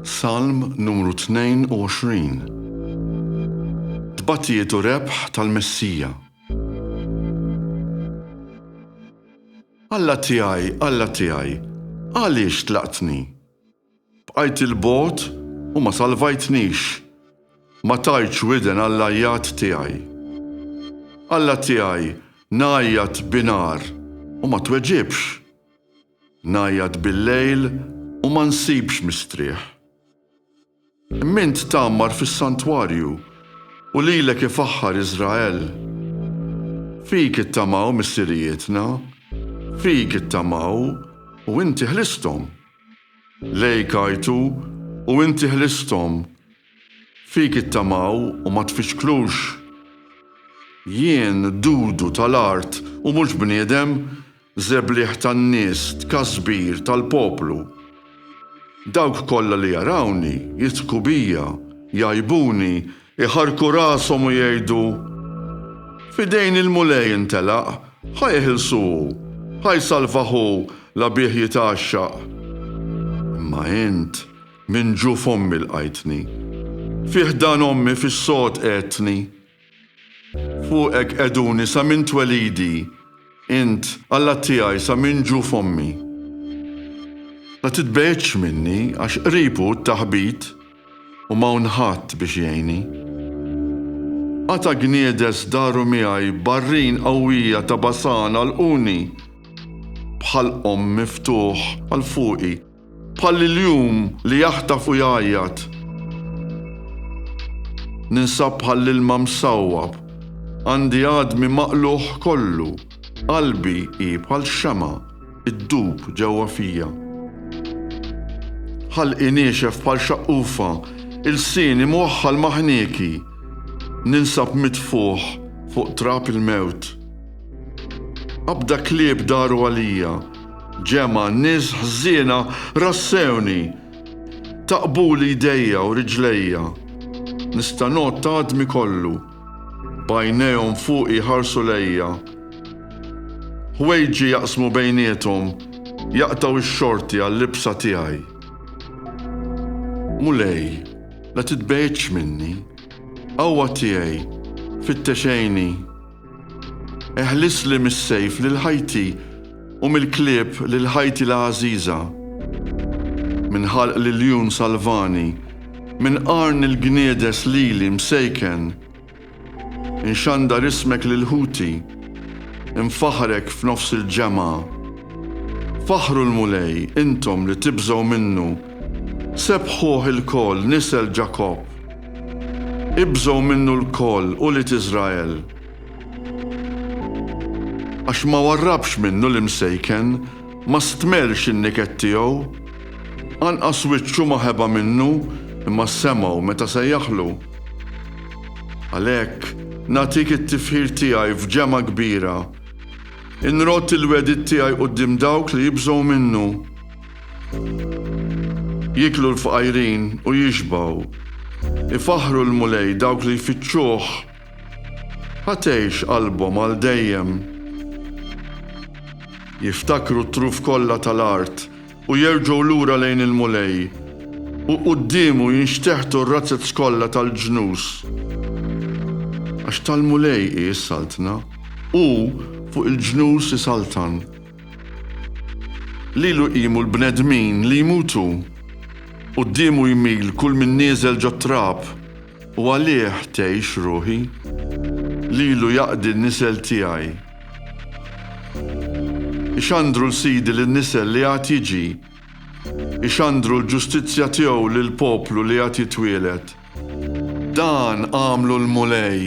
Salm numru 22 Tbatijiet u rebħ tal-Messija. Alla tiegħi, Alla tiegħi, għaliex tlaqtni? Bqajt 'il bogħod u ma salvajtnix, ma tajtx widen għall-għajjat tiegħi. Alla tiegħi, ngħajjat bi nar u ma tweġibx. Ngħajjat bil-lejl u ma nsibx mistrieħ. Imma int tgħammar fis-santwarju, u lilek ifaħħar Iżrael. Fik ittamaw missirijietna, fik ittamaw, u inti ħlisthom. Lejk għajtu, u inti ħlisthom. Fik ittamaw u ma tfixklux. Jien, dudu tal-art u mhux bniedem, Żebliħ tan-nies, tkasbir tal-poplu. Dawk kollha li jarawni, jidħku bija, jgħajbuni, iħarrku rashom u jgħidu, F'idejn il-Mulej intelaq, ħa jeħilsu hu, ħa jsalvah hu, la bih jitgħaxxaq. Imma int minn ġuf ommi lqajtni, fi ħdan ommi fis-sod qegħedtni. Fuqek qegħduni sa minn twelidi, Int, Alla tiegħi sa minn ġu f'ommi. La titbegħidx minni għax qrib hu t-taħbit u m'hawn ħadd biex jgħinni. Qata' gniedes daru miegħi barrin qawwija ta' Basan għalquni, bħalqhom miftuħ għal fuqi. Bħal l-iljun li jaħtaf u jgħajjat. Ninsab bħal l-ilma msawwab. Għandi għadmi maqlugħ kollu. Qalbi hi bħal xemgħa ddub ġewwa fija. Ħalqi niexef bħal xaqqufa, ilsieni mwaħħal ma' ħnieki. Ninsab mitfugħ fuq trab il-mewt. Qabda klieb daru għalija. Ġemgħa nies ħżiena rassewni, taqbuli jdejja u riġlejja. Nista' ngħodd ta' għadmi kollu, b'għajnejhom fuqi jħarsu lejja. Ħwejġi jaqsmu bejniethom, jaqtgħu x-xorti għal-libsa tiegħi. Mulej, la titbegħidx minni, Qawwa tiegħi, fittex għini. Eħlisli mis-sejf lil ħajti u mill-klieb lil ħajti l-għażiża. Minn ħalq l-iljun salvani, minn qarn il-gniedes lili msejken. Inxandar ismek lil ħuti, infaħħrek f'nofs il-ġemgħa. Faħħru l-Mulej, intom li tibżgħu minnu, sebbħuh ilkoll nisel Ġakobb. Ibżgħu minnu lkoll, ulied Israel! Għax ma warrabx minnu l-imsejken, ma stmerx in-niket tiegħu. Anqas wiċċu ma ħeba minnu, imma semgħu meta sejjaħlu. Għalhekk, nagħtik it-tifħir tiegħi f'ġemgħa kbira. Inrodd il-wegħdiet tiegħi quddiem dawk li jibżgħu minnu. Jieklu l-fqajrin u jixbgħu. Ifaħħru l-Mulej dawk li jfittxuh. Ħa tgħix qalbhom għal dejjem. Jiftakru t-truf kollha tal-art u jerġgħu lura lejn il-Mulej, u quddiemu jinxteħtu r-razzez kollha tal-ġnus. Għax tal-Mulej hi s-saltna, hu fuq il-ġnus isaltan. Lilu jqimu l-bnedmin li jmutu, quddiemu jmil kull min nieżel ġot-trab, u għalih tgħix ruħi. Lilu jaqdi n-nisel tiegħi. Ixandru 'l Sidi lin-nisel li għad jiġi, ixandru l-ġustizzja tiegħu lill-poplu li għad jitwieled. Dan għamlu l-Mulej.